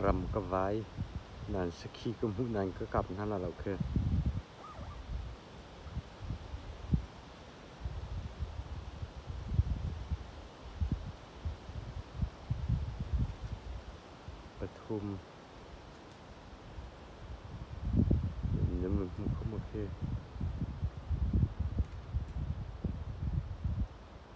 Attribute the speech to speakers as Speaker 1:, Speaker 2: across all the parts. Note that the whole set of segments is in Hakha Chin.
Speaker 1: Ram ka vai, nan sakhi ka hmuh nain ka kap hna la lo khi. Pathum. Nam na hmu kho maw khi?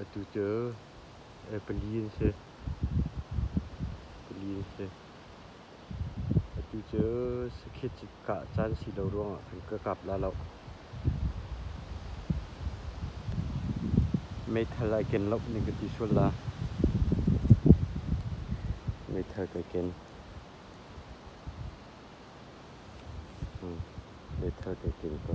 Speaker 1: Atu cu pali an si. Pali an si. Atu cu sakhi cu kah caan si lo ruangah kan ka kap la lo. Meithal ai ken lo ning ka ti sual la. Meithal kai ken. Hmm. Meithal kai ken ko.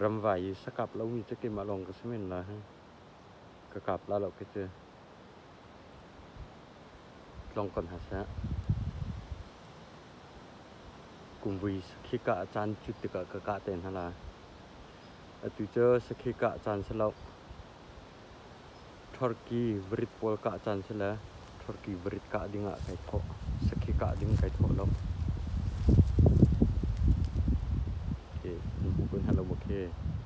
Speaker 1: Ramvai i sakap lomi cu keimah lawng ka si men lai hei. Ka kap la lo khi cu. tlong ko hna seh. Kumvui sakhi kah a caan cut tikah ka kah te hna lai. Atu cu sakhi kah caan si lo. Thorki varit pawl kah caan si le thorki varit kah ding ah kai thawh. Sakhi kah ding kai thawh lo. Okay, kan hmu kun halo okay.